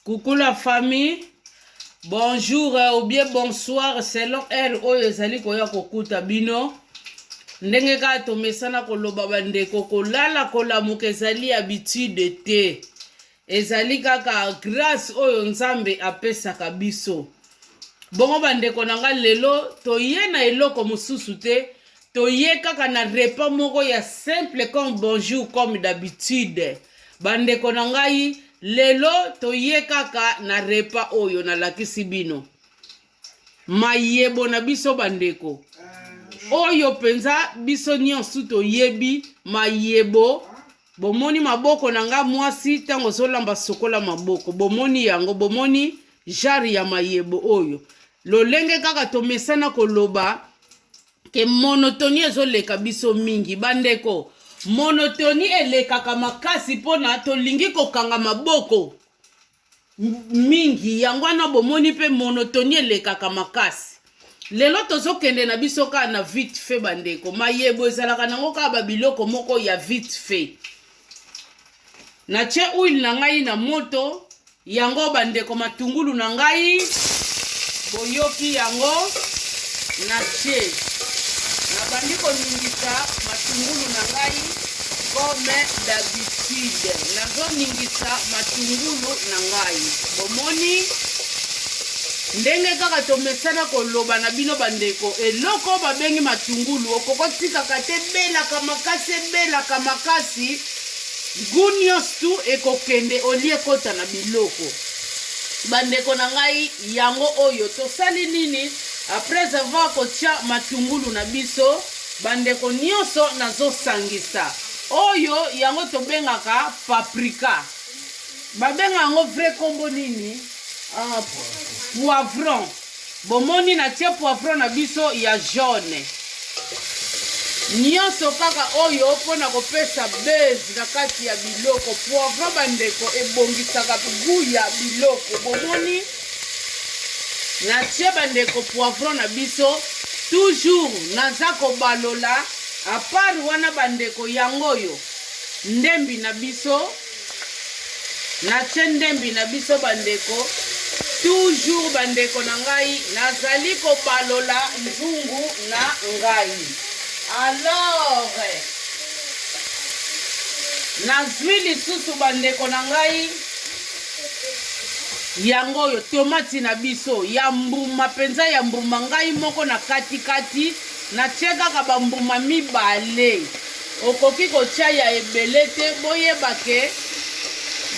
Coucou la famille. Bonjour euh, ou bien bonsoir selon heure oyo ezali koya kokuta bino. Ndenge kaka tomesana koloba bandeko, kolala kolamuka ezali habitude te, ezali kaka grâce oyo Nzambe apesaka biso. Bongo bandeko na ngai, lelo toye na eloko mosusu te, toye kaka na repas moko ya simple comme bonjour comme d'habitude bandeko na ngai lelo toye kaka na repas oyo nalakisi bino mayebo na biso bandeko oyo mpenza biso nyonso toyebi mayebo bomoni maboko na ngai mwasi ntango ozolamba sokola maboko bomoni yango bomoni jare ya mayebo oyo lolenge kaka tomesana koloba ke monotonie ezoleka biso mingi bandeko monotoni elekaka makasi mpona tolingi kokanga maboko mingi yango wana bomoni mpe monotoni elekaka makasi lelo tozokende na biso kaka na vite fait bandeko mayebo ezalaka nango kaka babiloko moko ya vite fait Natye huile na ngai na moto, yango bandeko matungulu na ngai boyoki yango, natye nabandi koningisa matungulu na ngai comme d'habitude, nazoningisa matungulu na ngai. Bomoni ndenge kaka tomesana koloba na bino bandeko, eloko babengi matungulu okokotikaka te, ebelaka makasi, ebelaka makasi Gout nyonso tu ekokende olie ekota na biloko. Bandeko na ngai yango oyo tosali nini après avoir kotia matungulu na biso bandeko nyonso nazosangisa oyo yango tobengaka paprika babenga yango vrai kombo nini uh, poivron Bomoni, natie poivron na biso ya jaune. Nionso kaka oyo mpo na kopesa buzz na kati ya biloko. Poivron, bandeko, ebongisaka gout ya biloko. Bomoni? Natie bandeko poivron na biso. Toujours, naza kobalola. Apart wana bandeko, yango oyo, ndembi na biso. natie ndembi na biso bandeko toujours bandeko na ngai nazali kobalola nzungu na ngai alors nazwi lisusu bandeko na ngai yango oyo tomati na biso ya mbuma mpenza ya mbuma ngai moko na katikati natie kaka bambuma mibale Okoki kotia ya ebele te boyeba ke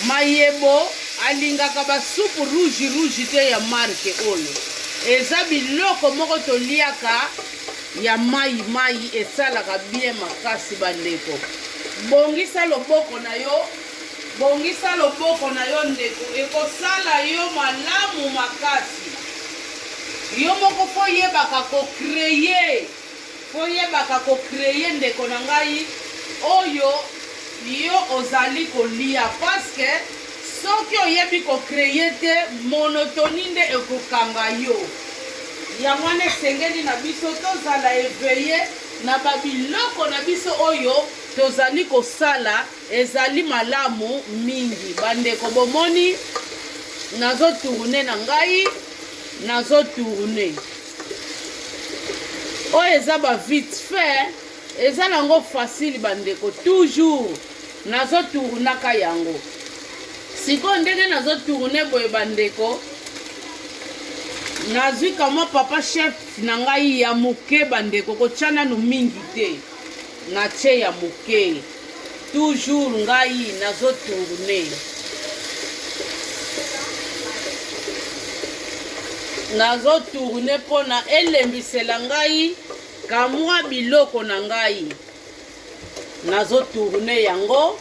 mayebo alingaka ba soupe rouge rouge te ya marque oyo eza biloko moko toliaka ya mayi mayi esalaka bien makasi bandeko bongisa loboko na yo bongisa loboko na yo ndeko ekosala yo malamu makasi yo moko fo yebaka ko creye Fo yebaka ko cree ndeko na ngai oyo yo ozali ko lia pasque soki oyebi ko cree te monotonie nde eko kanga yo yango wana esengeli na biso to zala eveille na ba biloko na biso oyo tozali ko sala ezali malamu mingi ba ndeko bomoni nazo tourner na ngai nazo tourner oyo eza ba vite fait eza nango facile bandeko toujours nazotournaka yango sikoyo ndenge nazotourne boye bandeko nazwi kamwa papa chef na ngai ya moke bandeko kotya nanu mingi te Na ce ya moke. Toujours ngai nazo tourne. Nazo tourne pona elembisela ngai kamwa biloko na ngai. Nazo tourne yango.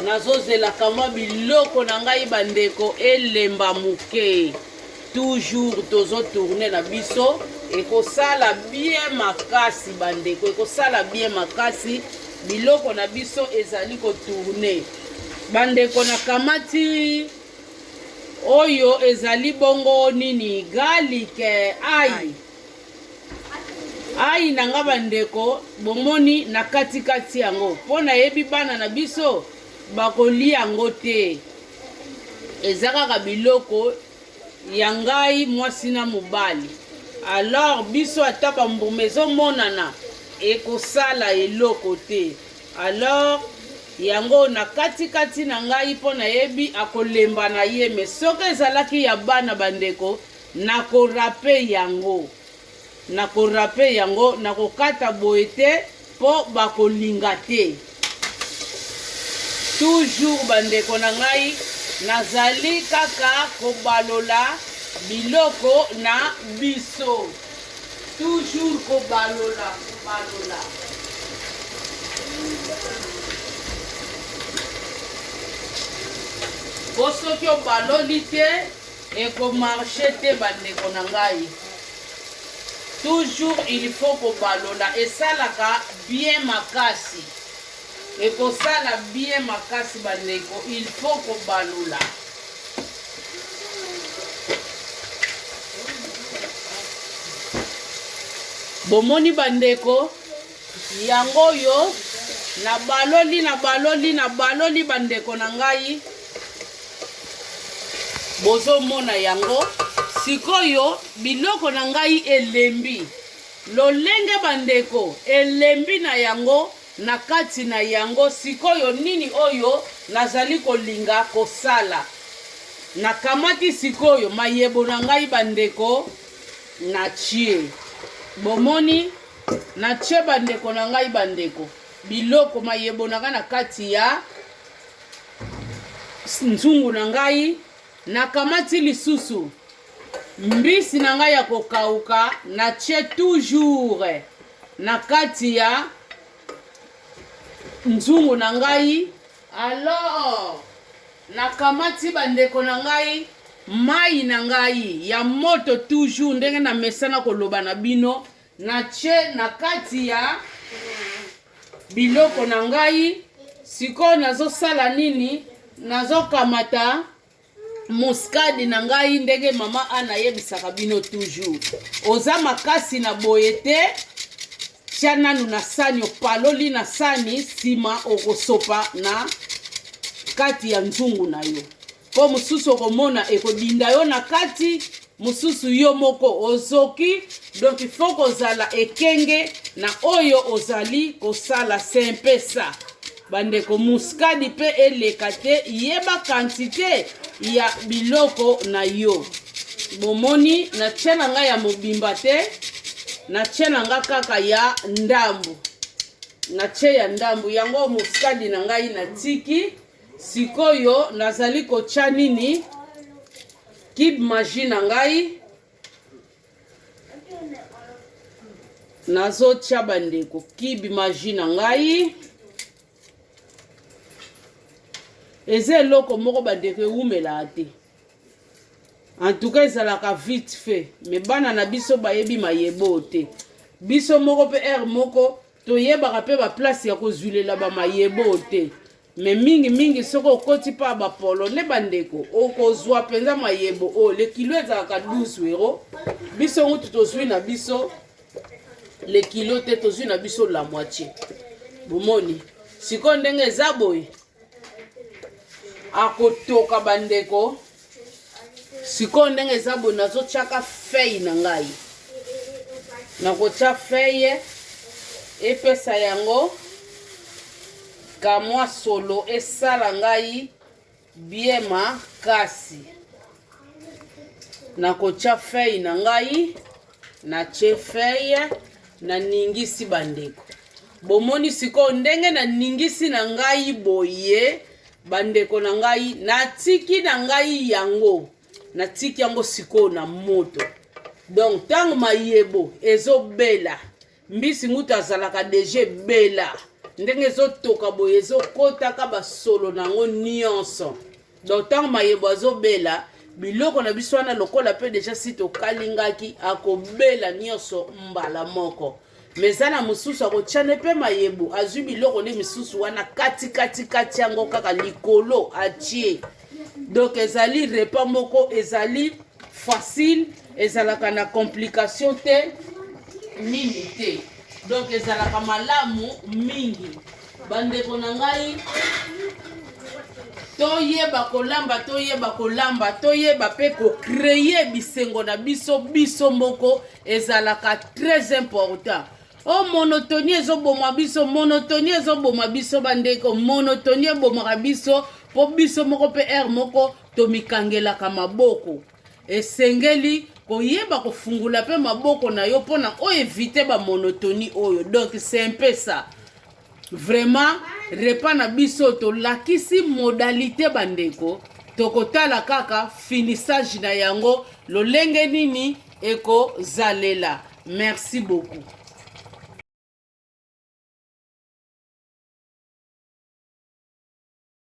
Nazo zela kamwa biloko na ngai bandeko elemba moke. Toujours tozo tourner na biso ekosala bien makasi bandeko, ekosala bien makasi. Biloko na biso ezali ko tourner bandeko, na kamati oyo ezali bongo nini garlic eh, ai ai na nga bandeko bomoni na katikati yango mpo nayebi bana na biso bakolia yango te eza kaka biloko ya ngai mwasi na mobali alors biso ata bambuma ezomonana ekosala eloko te alors yango na katikati na ngai mpo nayebi akolemba na ye me soki ezalaki ya bana bandeko nakorape yango Na ko rape yango na ko kata boye te po ba ko linga te. Toujours ba ndeko na ngai nazali kaka ko balola biloko na biso. Toujours ko balola, ko balola. Po soki obaloli te Eko marche te ba ndeko na ngai. Toujours il faut ko balola esalaka bien makasi. Eko sala bien makasi ba ndeko il faut ko balola. Bomoni ba ndeko? Yango oyo nabaloli nabaloli nabaloli bandeko na ngai bozomona yango sikoyo biloko na ngai elembi lolenge bandeko elembi na yango na kati na yango sikoyo nini oyo nazali kolinga kosala nakamati sikoyo mayebo na ngai bandeko na tie bomoni Na ce bandeko na ngai bandeko, biloko mayebonaka na kati ya nzungu na ngai, nakamati lisusu mbisi na ngai ya kokauka, na ce toujours na kati ya nzungu na ngai alors nakamati bandeko na ngai mai na ngai ya moto toujours ndenge na mesana koloba na bino Natye na kati ya biloko na ngai sikoyo, nazosala nini? Nazokamata muskadi na ngai ndenge mama ana ayebisaka bino toujours, oza makasi na boye te tya nanu na sani, opaloli na sani, nsima okosopa na kati ya nzungu na yo. mpo mosusu okomona ekodinda yo na kati mosusu yo moko ozoki donc ifo kozala ekenge na oyo ozali kosala sempesa bandeko muskadi mpe eleka te yeba kantite ya biloko na yo bomoni natia na ngai ya mobimba te natia na ngai kaka ya ndambo natie ya ndambo yango muskadi na ngai natiki Sikoyo nazali kotya nini? Cube magie na ngai nazotya bandeko cube magie na ngai eza eloko moko bandeko ewumelaa te antuka ezalaka vite fait me bana na biso bayebi mayeboo te biso moko mpe heure moko toyebaka mpe baplace ya kozwilela bamayebo oyo te me mingi mingi soki okoti mpa bapolone bandeko okozwa mpenza mayebo oyo lekilo ezalaka 12 euro biso ngutu tozwi na biso lekilo te tozwi na biso la moitié bomoni sikoyo ndenge eza boye akotoka bandeko sikoyo ndenge eza boye nazotyaka fei na ngai nakotya feye epesa yango kamwa solo esala ngai bie makasi nakotya fei na ngai natie feye naningisi bandeko bomoni sikoyo ndenge naningisi na ngai boye bandeko na ngai natiki na ngai yango natiki yango sikoyo na moto donc ntango mayebo ezobela mbisi ngutu azalaka deja ebela ndenge ezotoka boye ezokotaka basolo na yango nyonso donc ntango mayebo azobela biloko na biso wana lokola mpe deja si tokalingaki akobela nyonso mbala moko me eza na mosusu akotya nde mpe mayebo azwi biloko nde misusu wana kati kati kati yango kaka likolo atie donc ezali repas moko ezali facile ezalaka na complication te nini te donc ezalaka malamu mingi bandeko na ngai toyeba kolamba toyeba kolamba toyeba mpe kocreye bisengo na biso biso moko ezalaka très important Oh monotonie ezoboma biso, monotonie ezoboma biso bandeko, monotonie ebomaka biso mpo biso moko mpe heure moko tomikangelaka maboko. Esengeli koyeba kofungola mpe maboko na yo mpo na oevite bamonotonie oyo, donc c'est un peu ça. Vraiment repas na biso tolakisi modalite bandeko, tokotala kaka finissage na yango lolenge nini ekozalela. Merci beaucoup.